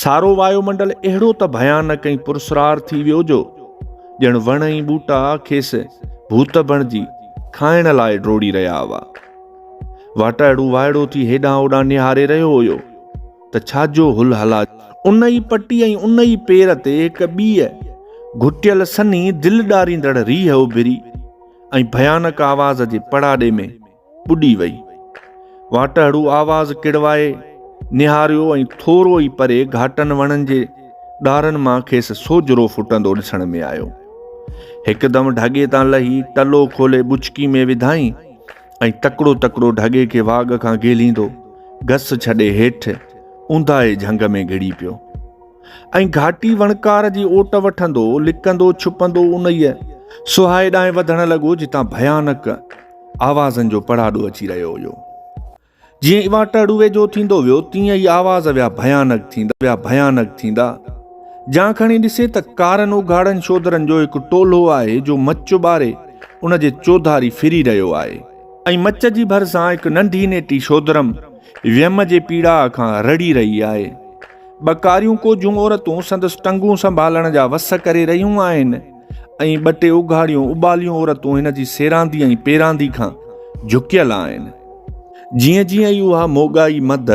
سارو وايو منڊل اهڙو ته ڀيانڪ ۽ پرسرار ٿي ويو جو ڄڻ وڻ ۽ ٻوٽا کيس ڀوت بڻجي کائڻ لاء ڊوڙي رهيا هئا واٽائڙو وائڙو ٿي هيڏانهن هوڏانهن نهاري رهيو هيو ته ڇا جو هل هلا ان ئي پٽي ۽ ان ئي پير تي هڪ ٻيء گهٽيل سنهي دل ڏاريندڙ ريهه اڀري ۽ ڀيانڪ آواز جي پڙاڏي ۾ ٻڏي وئي. واٽهڙو آواز ڪڙوائي نهاريو ۽ ٿورو ئي پري گهاٽن وڻن جي ڏارن مان کيس سوجهرو ڦٽندو ڏسڻ ۾ آيو. هڪدم ڍڳي تان لهي ٽلو کولي ٻچڪي ۾ وڌائين ۽ تڪڙو تڪڙو ڍڳي کي واڳ کان گهيليندو گس ڇڏي هيٺ اونداهي جهنگ ۾ گهڙي پيو ۽ گهاٽي وڻڪار جي اوٽ وٺندو لڪندو ڇپندو انهيء سهائي ڏانهن وڌڻ لڳو جتان ڀيانڪ آوازن جو پڙاڏو اچي رهيو هيو. جيئن اها ٽڙ ويجهو ٿيندو ويو تيئن ئي آواز ويا ڀيانڪ ٿيندا ويا ڀيانڪ ٿيندا. جان کڻي ڏسي ته ڪارن اگهاڙن شودرن جو هڪ ٽولو آهي جو مچ ٻاري ان جي چوڌاري ڦري رهيو آهي ۽ مچ جي ڀرسان هڪ ننڍي نيٽي شودرم ويم جي پيڙاء کان رڙهي رهي آهي. ٻه ڪاريون ڪوجهون عورتون سندس ٽنگون سنڀالڻ جا وس ڪري رهيون آهن. ۽ ٻه ٽي اگهاڙيون اٻاليون عورتون هن جي سيراندي ۽ پيراندي کان جهڪيل آهن جيئن جيئن ئي اها موڳائي مد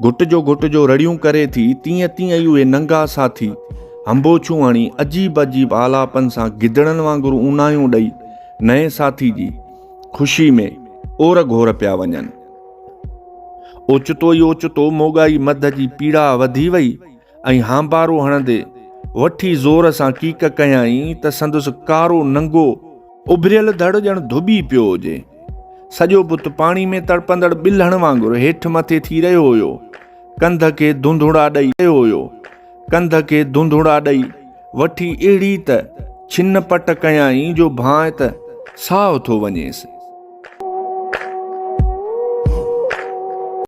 گهٽ جو گهٽ جو رڙيون ڪري ٿي تيئن تيئن ئي اهي ننگا ساٿي هنبوڇون هڻي عجيب عجيب آلاپن سان گدڙن وانگر اونايون ڏئي نئين ساٿي جي خوشي ۾ اور گهور پيا وڃن اوچتو ئي اوچتو موڳائي مد جي پيڙا وڌي وئي ۽ هانبارو هڻندي وٺي زور سان ڪيڪ ڪيائين ته سندس ڪارو ننگو اڀريل ڌڙ ڄڻ ڌٻي پيو هجي. سڄو بت پاڻي ۾ تڙپندڙ ٻلهڻ وانگر هيٺ مٿي ٿي رهيو هيو. ڪنڌ کي ڌونڌڙا ڏئي رهيو هيو. ڪنڌ کي ڌونڌڙا ڏئي وٺي اهڙي ته ڇن پٽ ڪيائين جو ڀانء ته ساهه ٿو وڃيس.